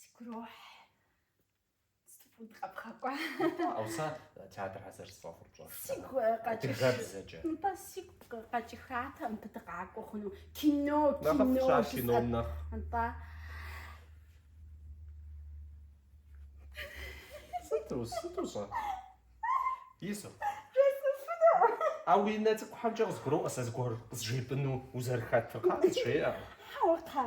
Сгурохь. Стфуд къэпхъэкӏуа. Ауэ сэ театр хьэзыр сфӏэфӏыр пщӏэш. Сигу къэкӏыш. Адыгэбзэкӏэ. Нтӏэ сигу къэкӏыхатэм мыбы дыкъакӏуэ хъуну. Кино, кино. Нэхъыфӏ щащ кином нэхъ. Нтӏэ. Сыту, сыту щӏэ? Ису. А уи нэ цӏыкӏухьэмкӏэ къызгуроӏуэ сэ зыгуэр къызжепӏыну узэрыхэтыр, къа къызжеӏэ. Хьэуэ, хьэ.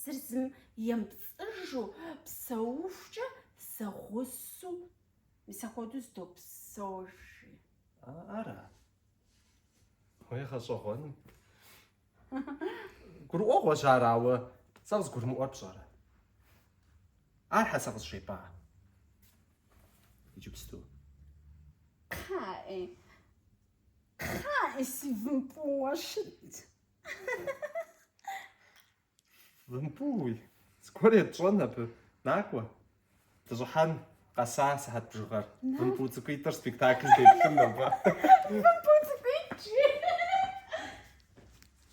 Зыр зым емыпцӏыжу псэухукӏэ зэгъусу мис ахуэду зэдопсэужи. Ара? Уей гъэщӏэгъуэни. Гурыӏуэгъуэщ ар, ауэ сэ къызгурымыӏуэр пщӏэрэ? Ар щхьэ сэ къызжепӏа? Иджыпсту. Кхъаӏи, кхъаӏи, си вымпӏууэ щыт. Вымпуй, цӏыкӏуэр етщӏэн абы. Накӏуэ, дыщӏыхьэн къэса сыхьэт бжыгъэр. Вымпу цӏыкӏуитӏыр спектакль деплъын нобэ. Вымпу цӏыкӏуитӏ жи.